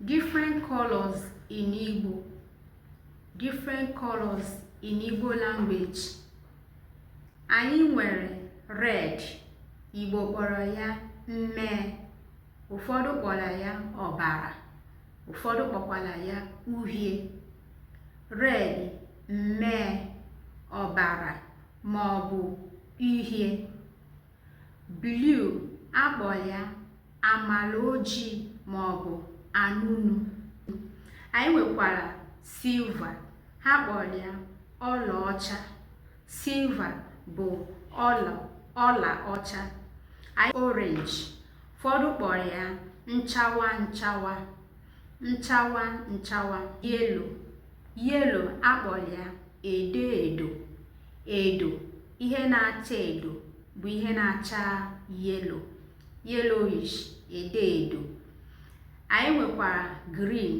different colors in Igbo different colors in Igbo language anyị nwere red Igbo kpọrọ ya mmee ụfọdụ kpọrọ ya ọbara ụfọdụ kpọkwara ya uhie red mmee ọbara ma ọ bụ uhie Blue a kpọrọ ya amala ojii ma ọ bụ anụnụ anyị nwekwara silver ha kpọrọ ya ọlaọcha silver bụ ọla ọla ọcha anyị orange ụfọdụ kpọrọ ya nchawa nchawa nchawa nchawa yellow yellow a kpọrọ ya edo edo edo ihe na-acha edo bụ ihe na-acha yellow yellowish edo edo anyị nwekwara green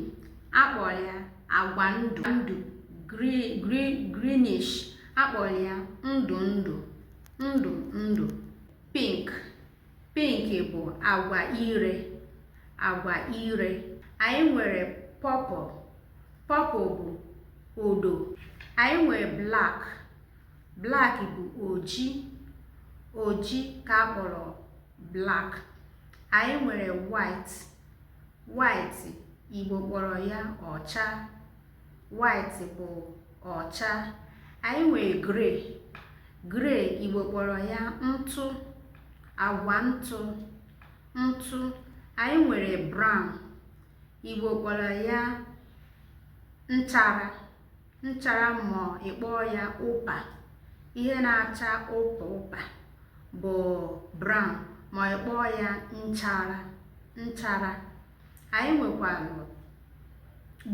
a kpọrọ ya agwa ndụ ndụ greenish a kpọrọ ya ndụ ndụ ndụ ndụ pink Pink bụ agwa ire, agwa ire. Anyị nwere purple, purple bụ odo. Anyị nwere black, black bụ oji, oji ka a kpọrọ black. Anyị nwere white, white Igbo kpọrọ ya ọcha, white bụ ọcha anyị nwere grey grey Igbo kpọrọ ya ntụ agwa ntụ ntụ anyị nwere brown Igbo kpọrọ ya nchara nchara ma ị kpọọ ya ụpa ihe na-acha ụpa ụpa bụ brown ma ị kpọọ ya nchara nchara anyị nwekwara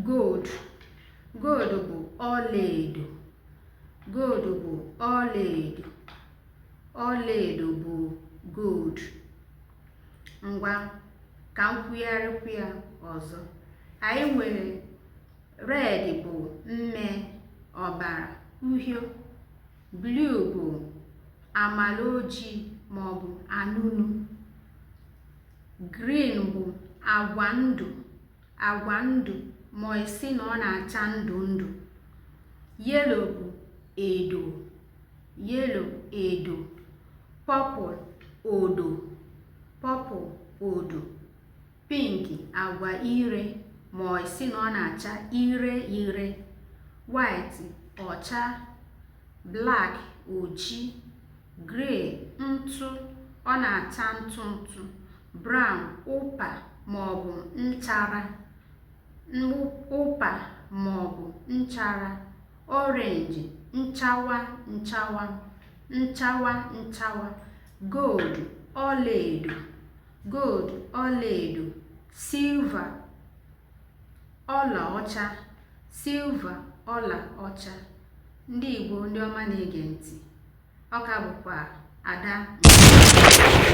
gold gold bụ ọlaedo gold bụ ọlaedo ọlaedo bụ gold ngwa ka m kwugharịkwu ya ọzọ anyị nwere red bụ mmee ọbara uhie blue bụ amala ojii ma ọ bụ anụnụ Green bụ agwa ndụ agwa ndụ ma ị sị na ọ na-acha ndụ ndụ. Yellow bụ edo yellow edo. Purple odo purple odo. Pink agwa ire ma ị sị na ọ na-acha ire ire. White ọcha black oji gray ntụ ọ na-acha ntụ ntụ brown ụpa maọbụ nchara ụpa maọbụ nchara orange nchawa nchawa nchawa nchawa gold ọlaedo gold ọlaedo silver ọlaọcha silver ọlaọcha ndị Igbo ndị ọma na-ege ntị ọ ka bụkwa Ada